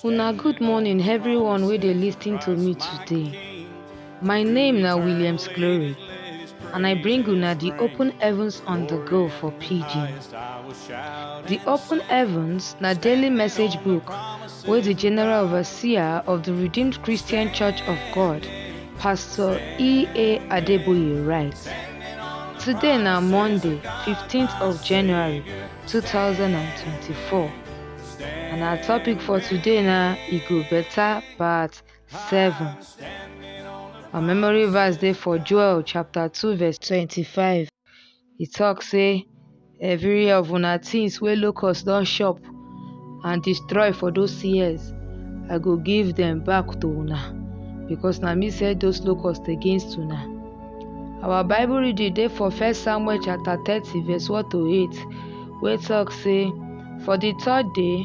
Una good morning everyone wey dey lis ten to me today. My name na Williams Glory and I bring una the open heavens on the go for pidgin. The open heavens na daily message book wey di general overseer of di redeemed christian church of god pastor e a adeboye write today na monday 15th of january 2024 and our topic for today na e go better part 7 our memory verse dey for joel chapter 2 verse 25 He talk say every of una things wey locust don chop and destroy for those years, I go give them back to una because na me send those locusts against una. Our Bible reading dey for First Samuel chapter thirty verse one to eight wey talk say for the third day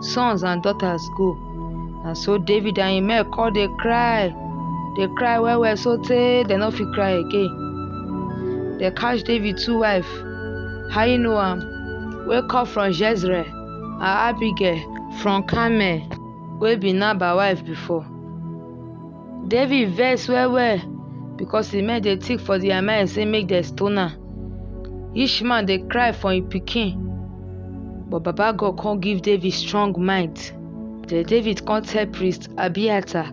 sons and daughters go. And so David and him men come dey cry, dey cry well well so tey dem no fit cry again. Dem catch David two wife, Ahinoam wey come from Jezreel and Abigail from Carmel wey be Nabal wife before. David vex well well because the men dey think for their mind say make dem stone am. Each man dey cry for im pikin. But Baba God come give David strong mind. Then David come tell priest Abiathar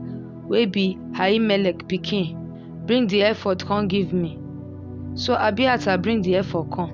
wey be Ahimelech pikin, Bring the ephod come give me. So Abiathar bring the ephod come.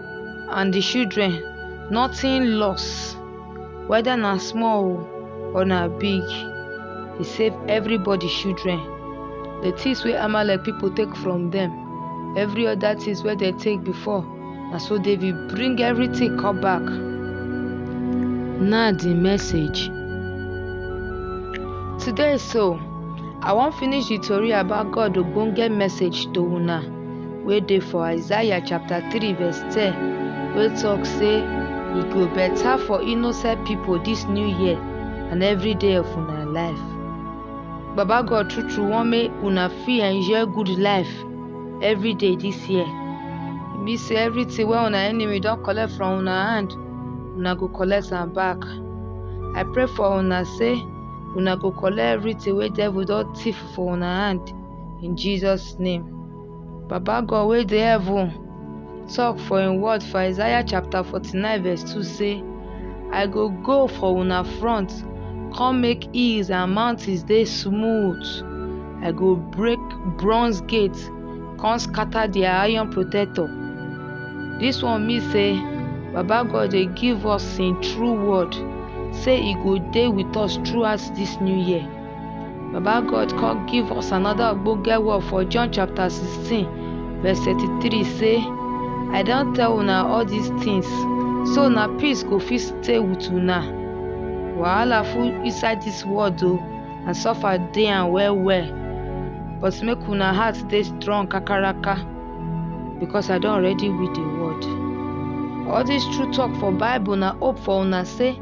and di children nothing loss weda na small o or na big he save everybody children the things wey amalek people take from them every other things wey they take before na so david bring everything come back na the message today so i wan finish the tori about god ogbonge message to una wey dey for Isaiah chapter 3 verse 10 wey talk say e go better for innocent people this new year and every day of una life. Baba God true true want make una fit enjoy good life every day this year. E mean say everything wey una enemy don collect from una hand, una go collect am back. I pray for una say una go collect everything wey devil don thief for una hand. in Jesus name. Baba God wey dey heaven talk for im word for Isaiah chapter 49 verse 2 say, I go go for una front, come make hills and mountains dey smooth. I go break bronze gate, come scatter their iron protector. This one mean say Baba God dey give us im true word say e go dey with us throughout this new year. Baba God come give us another ogbonge word for John chapter 16 verse 33 say, I don tell una all these things so na peace go fit stay with una. Wahala full inside this world o and suffer dey am well well but make una heart dey strong kakaraka because I don already win the world. All this true talk for Bible na hope for una say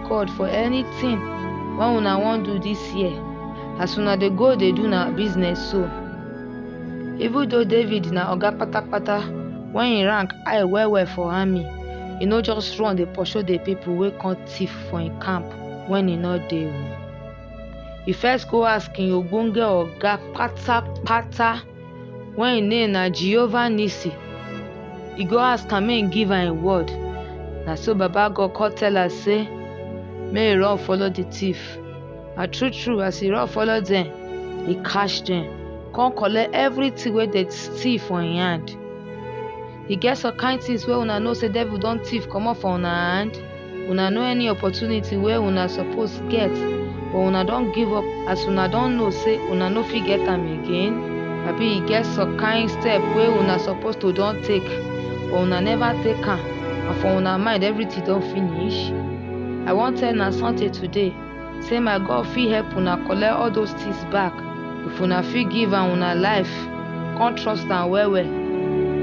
record for anything wey una wan do this year as una dey go dey do na business so even though david na oga patapata when he rank high well well for army he no just run dey pursue the people wey come thief for him camp when he no dey o he first go ask him ogbonge oga patapata wey im name na Jehovah Nissi, e go ask am make im give am im word. Na so Baba God come tell am say make e run follow the thief. And true true, as e run follow dem, e catch dem, come collect everything wey dem steal for im hand. e get some kind things wey una know say devil don thief comot for una hand una know any opportunity wey una suppose get but una don give up as una don know say una no fit get am again abi e get some kind step wey una suppose to don take but una never take am and for una mind everything don finish i wan tell una something today say my god fit help una collect all those things back if una fit give am una life come trust am well well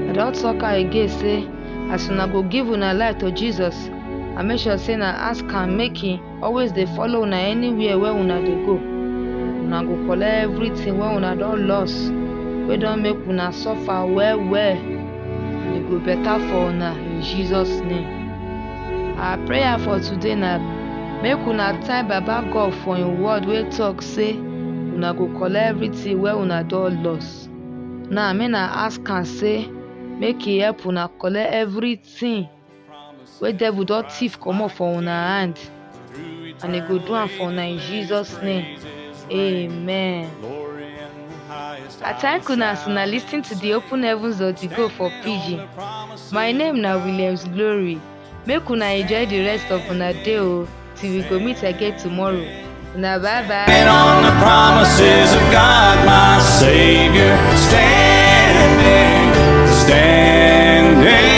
i don talk am again say as una go give una life to jesus and make sure say na ask am make he always dey follow una anywhere wey una dey go una go collect everything wey una don loss wey don make una suffer well well and e go better for una in jesus name Our prayer for today na make una thank Baba God for im word wey talk say una go collect everything wey una don loss. Now make na ask am say make he help una collect everything wey devil don thief comot for una hand. and e go do am for una in jesus name amen. I thank una as una lis ten to the open heavens of the go for pidgin. My name na Williams Glory. Make una enjoy the rest of una day o till we go meet again tomorrow. Una bye bye. And on the promises of God, my Savior, standing, standing.